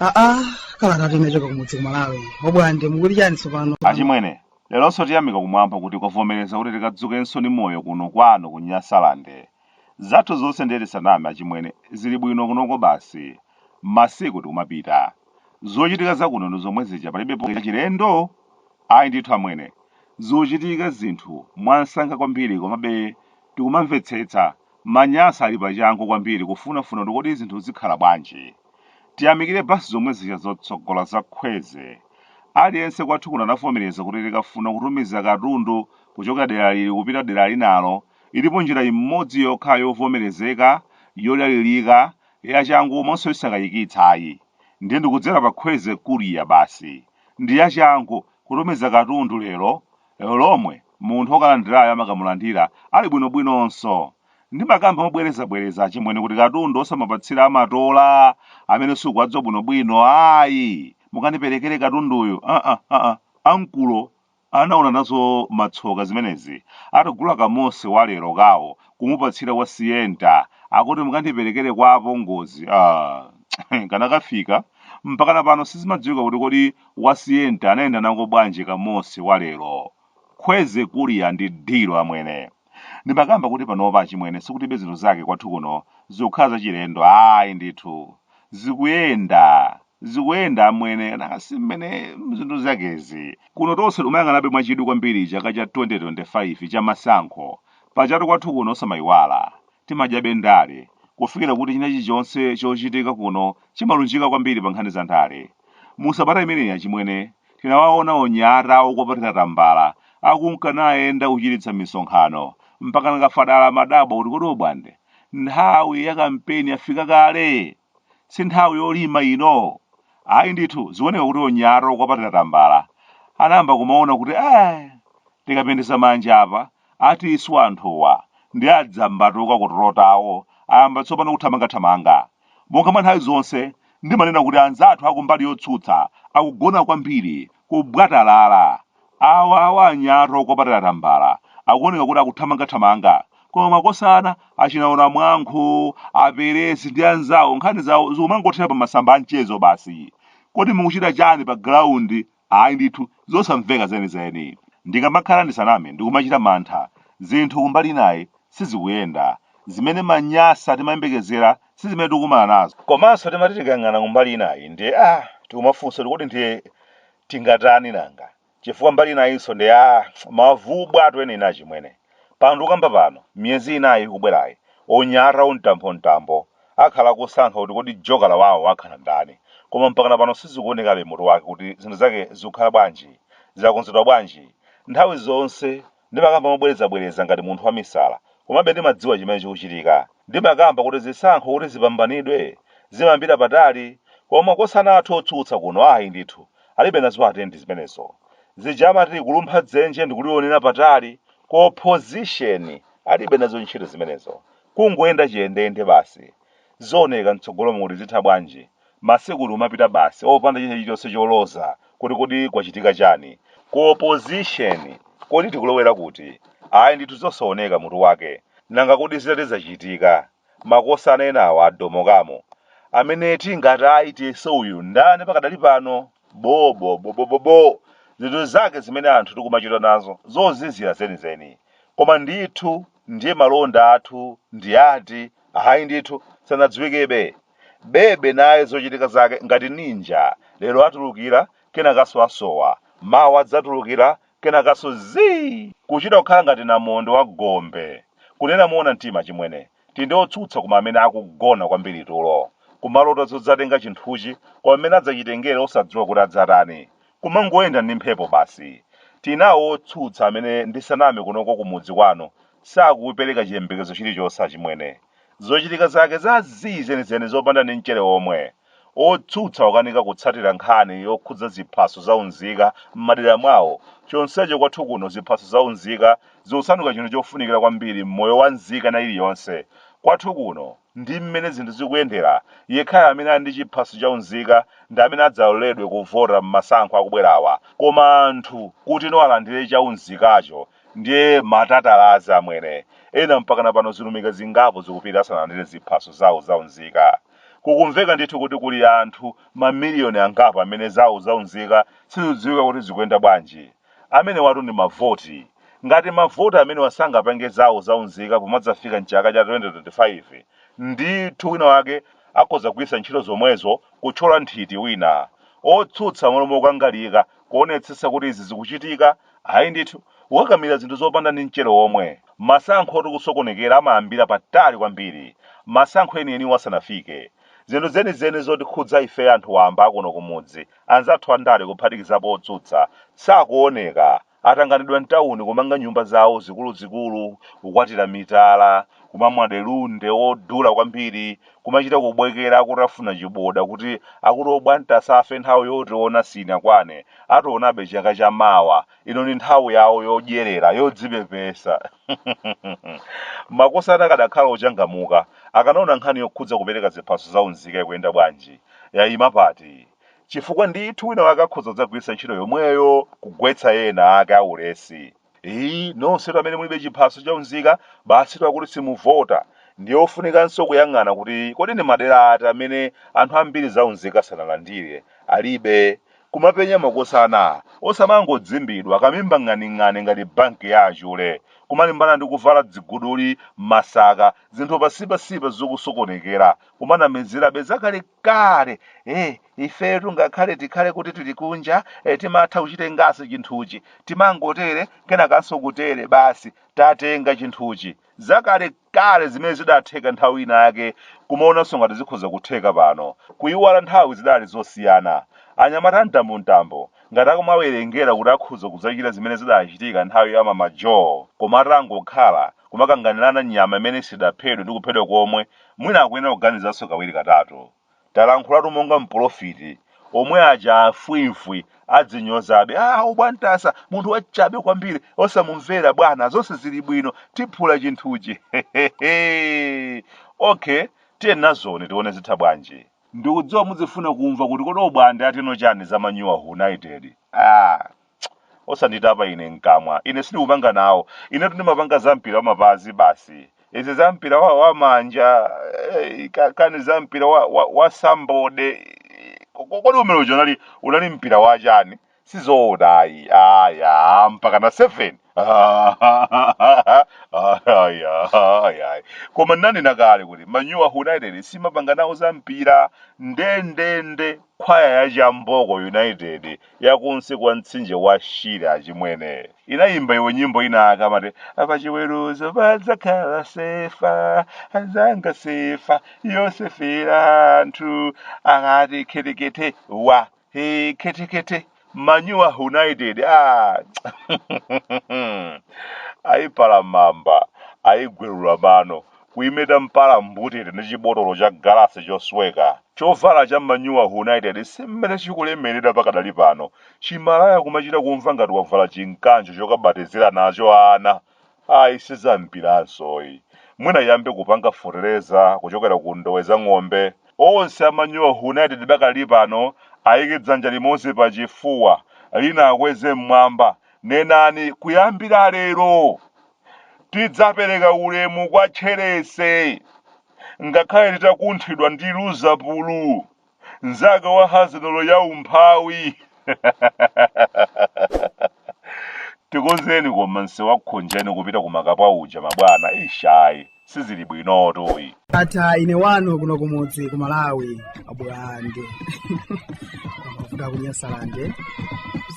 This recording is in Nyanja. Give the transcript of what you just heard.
aa kalatatu inachoka kumudzi kumalawi obwande mukuti chani tsopano achimwene leronso tiyamika kumwamba kuti kwavomereza kuti tikadzukenso ndi moyo kuno kwanu ku nyasalande Zathu zonse ndiye tisaname achimwene zili bwino kunoko basi. Masiku tikumapita. Zochitika za kuno ndi zomwe zija palibepo chilendo? Ayi ndithu amwene. Zikuchitika zinthu mwansanga kwambiri komabe tikumamvetsetsa. Manyasa ali pa changu kwambiri kufunafuna kuti kodi zinthu zikhala bwanji. Tiyamikire basi zomwe zija zotsogola za khweze. Aliyense kwathu kuno anavomereza kuti tikafuna kutumiza katundu kuchokera dera lili kupita dera linalo, Ilipo njira imodzi yokha yovomerezeka, yodalirika, yachangu komanso yosakayikitsa ayi. Ndiye ndi kudzera pa Khweze Courier basi. Ndi yachangu, kutumiza katundu lero, lero lomwe munthu okalandirayo amakamulandira ali bwinobwinonso. Ndimakamba mobwerezabwereza achimwene kuti katundu osamapatsira amatola amene sukuwadziwa bwinobwino ayi. Mukandiperekere katunduyu, aa, aa, ankolo Anaona nazo matsoka zimenezi atagula ka Mose wa lero kawo kumupatsira wa Sienta akuti mukandiperekere kwa apongozi aah kanakafika mpakana pano sizimadziwika kuti kodi wa Sienta anayenda nako bwanji ka Mose wa lero. Khweze Courier ndi dhilu amwene. Ndimakamba kuti panopa achimwene sikutibe zinthu zake kwathu kuno zikukhala zachilendo ayi ndithu zikuyenda zikuyenda amwene nanga si mmene zinthu zakezi kuno tonse timayang'anabe mwachidwi kwambiri chaka cha 2025 cha masankho pajatu kwathu kuno osamayiwala timadyabe ndale kufikira kuti china chilichonse chochitika kuno chimalunjika kwambiri pa nkhani za ndale mu sabata imeneyi achimwene Tinawaona onyata okwapatira tambala akunka nayenda kuchititsa misonkhano, mpakana Kafadala amadabwa kuti kodi Obwande, nthawi ya kampeni yafika kale? Si nthawi yolima ino? Ayi ndithu, zikuoneka kuti onyata okwapatira tambala anayamba kumaona kuti ai, tikapendesa manja apa, atiswa anthuwa, ndi adzambatuka kutulo tawo ayamba tsopano kuthamangathamanga. Monga mwa nthawi zonse, ndimanena kuti anzathu akumbali yotsutsa akugona kwambiri, kubwatalala. Awa awa anyata okwapatira tambala akuoneka kuti akuthamangathamanga, koma makosana achina Onamwankhu, a Peresi ndi anzawo nkhani zawo zikumangothera pa masamba a mchezo basi. Kodi mukuchita chani pa ground ayi ndithu zosamveka zenizeni ndikamakhala ndisaname ndikumachita mantha zinthu kumbali inayi sizikuyenda zimene aManyasa timayembekezera si zimene tikumana nazo komanso timati tikayang'ana kumbali inayi ndiye a tikumafunsa kuti kodi ndiye tingatani nanga chifukwa mbali inayinso ndiye mabvu bwa tweni nayi achimwene Pano ndikukamba pano, miyezi inayi ikubwerayi, anyamata amtambo-mtambo akhala akusankha kuti kodi jokala wawo akhala ndani. Koma mpakana pano sizikuonekabe mutu wake kuti zinthu zake zikukhala bwanji, zakonzedwa bwanji. Nthawi zonse ndimakamba mobwereza-bwereza ngati munthu wamisala, komabe ndimadziwa chimene chikuchitika. Ndimakamba kuti zisankho kuti zipambanidwe zimayambira patali, koma makosana athu otsutsa kuno ayi ndithu, alibe nazo atendi zimenezo zija amati kulumpha dzenje ndikulionera patali ku opposition alibe nazo ntchito zimenezo kungoyenda chiyendeyende basi zioneka mtsogolomu kuti zitha bwanji masiku kumapita basi opanda china chilichonse choloza kuti kodi kwachitika chani ku opposition kodi tikulowera kuti ayi ndithu zosaoneka mutu wake nanga kodi zitati zachitika makosana enawa adomoka mo amene tingati ayi tiyese uyu ndani pakadali pano bobobobobobo zinthu zake zimene anthu tikumachita nazo zozizira zenizeni koma ndithu ndiye malonda athu ndi ati ayi ndithu sanadziwikebe bebe naye zochitika zake ngati ninja lero atulukira kenakanso asowa mawa adzatulukira Kenakanso zii! Kuchita kukhala ngati namondwe wa gombe. Kunena moona mtima chimwene, tili ndi otsutsa koma amene akugona kwambiri tulo. Kumalota zodzatenga chinthuchi koma mmene adzachitengere osadziwa kuti adzatani. Kumangoyenda ndi mphepo basi. Tili nawo otsutsa amene ndisaname kunoko kumudzi kwanu sakupereka chiyembekezo chilichonse achimwene. Zochitika zake za zii zenizeni zopanda ndi mchere womwe. Otsutsa akukanika kutsatira nkhani yokhudza ziphaso za unzika m'madera mwawo chonsecho kwathu kuno ziphaso za unzika zikusanduka chinthu chofunikira kwambiri m'moyo wa nzika ina iliyonse kwathu kuno ndi mmene zinthu zikuyendera yekhayo amene ali ndi chiphaso cha unzika ndi amene adzaloledwe kuvota m'masankho akubwerawa koma anthu kutino alandire cha unzikacho ndiye matatalazi amwene ena mpakana pano zilumika zingapo zikupita asanalandire ziphaso zawo za unzika. Kukumveka ndithu kuti kuli anthu mamiliyoni angapo amene zawo zaunzika sizidziwika kuti zikuyenda bwanji. Amenewatu ndi mavoti. Ngati mavoti amenewa sangapange zawo zaunzika pomadzafika m'chaka cha 2025, ndithu wina wake akhoza kugwiritsa ntchito zomwezo kutchola nthiti wina. Otsutsa m'malo mokangalika kuonetsetsa kuti izi zikuchitika Ayi ndithu, kukakamira zinthu zopanda ndi mchere womwe. Masankhotu kusokonekera amayambira patali kwambiri, masankho enieniwo asanafike. Zinthu zenizeni zotikhudza ifeyo anthu wamba a kuno kumudzi, anzathu andale kuphatikizapo otsutsa, sakuoneka. Atanganidwa m'tauni kumanga nyumba zawo zikuluzikulu, kukwatira mitala, kumamwa delunde wodula kwambiri, kumachita kubwekera akutafuna chiboda kuti akuti obwantasa asafe nthawi yotiona siinakwane, ationabe chaka cha mawa, ino ndi nthawi yawo yodyerera, yodzipepesa. Makosana akadakhala ochangamuka, akanaona nkhani yokhudza kupereka ziphaso za unzika ikuyenda bwanji, yaima pati, chifukwa ndithu winawake akhoza kudzagwiritsa ntchito yomweyo kugwetsa ena ake aulesi. Iii nonsetu amene mulibe chiphaso cha unzika basitu akuti simuvota. Ndiye ofunikanso kuyang'ana kuti kodi ndi madera ati amene anthu ambiri za unzika sanalandire, alibe. Kumapenya makosana, osamangodzimbidwa kamimba ng'aning'ani ngati banki ya achule, kumalimbana ndi kuvala dziguduli, masaka, zinthu pasipasipa zokusokonekera, kumanamizirabe za kale kale eh ifetu ngakhale tikhale kuti tili kunja eh, timatha kuchitenganso chinthuchi timangotere kenakanso kutere basi tatenga chinthuchi zakale kale zimene zidatheka nthawi ina yake kumaonanso ngati zikhoza kutheka pano kuyiwala nthawi zidali zosiyana anyamata a mtambo mtambo ngati akumawerengera kuti akhoza kudzachita zimene zidachitika nthawi ya mama joe koma atangokhala kumakanganirana nyama imene sidaphedwe ndi kuphedwa komwe Mwina akuyenera kuganizanso kawiri katatu. Talankhulatu monga mpolofiti, omwe aja a fwimfwi adzinyozabe, aah obwantasa, munthu wachabe kwambiri, osamumvera bwana, zonse zili bwino, tiphula chinthuchi heheheeh! Ok, tiyenazoni tione zitha bwanji. Ndikudziwa mudzifuna kumva kuti kodi obwande atino chani za Manyowa United? Aah! osanditapa ine mkamwa ine sindikupanga nawo inetu ndimapanga za mpira wa mapazi basi izi za mpira wa, wa manja eh, ka- kani za mpira wa, wa, wa sambode Ko- ko- kodi umene uja unali unali mpira wa chani sizoona ayi aya mpaka na 7 aya aya koma nanena kale kuti manyowa united simapanga nawo za mpira ndendende Kwaya ya Chamboko United ya kunsi kwa mtsinje wa Shire achimwene inayimba iwe nyimbo inayake amati pachiweruzo padzakhala sefa anzanga sefa yosefera anthu akati khetekete wa he khetekete Manure United ayipala mamba ayigwelula mano kuyimeta mpala mbutete ndi chibotolo cha galasi chosweka chovala cha Manure United si mmene chikulemerera pakadali pano chimalaya kumachita kumva ngati wavala chinkanjo chokabatizira nacho ana Ayi si za mpiranso yi. Mwina iyambe kupanga fertilizer kuchokera ku ndowe za ng'ombe. Onse a Manure United pakadali pano ayike dzanja limodzi pa chifuwa, lina akweze mmwamba. Nenani kuyambira lero tidzapereka ulemu kwa Tcherese ngakhale titakunthidwa ndi Luzapulu. mnzake wa hazinolo ya umphawi tikonzereni koma msewu wa Khonjeni kupita ku Makapwa uja mabwana ish ayi sizili bwinotu iyi ndatha ine wanu kuno kumudzi ku Malawi abulande mavuto ku Nyasalande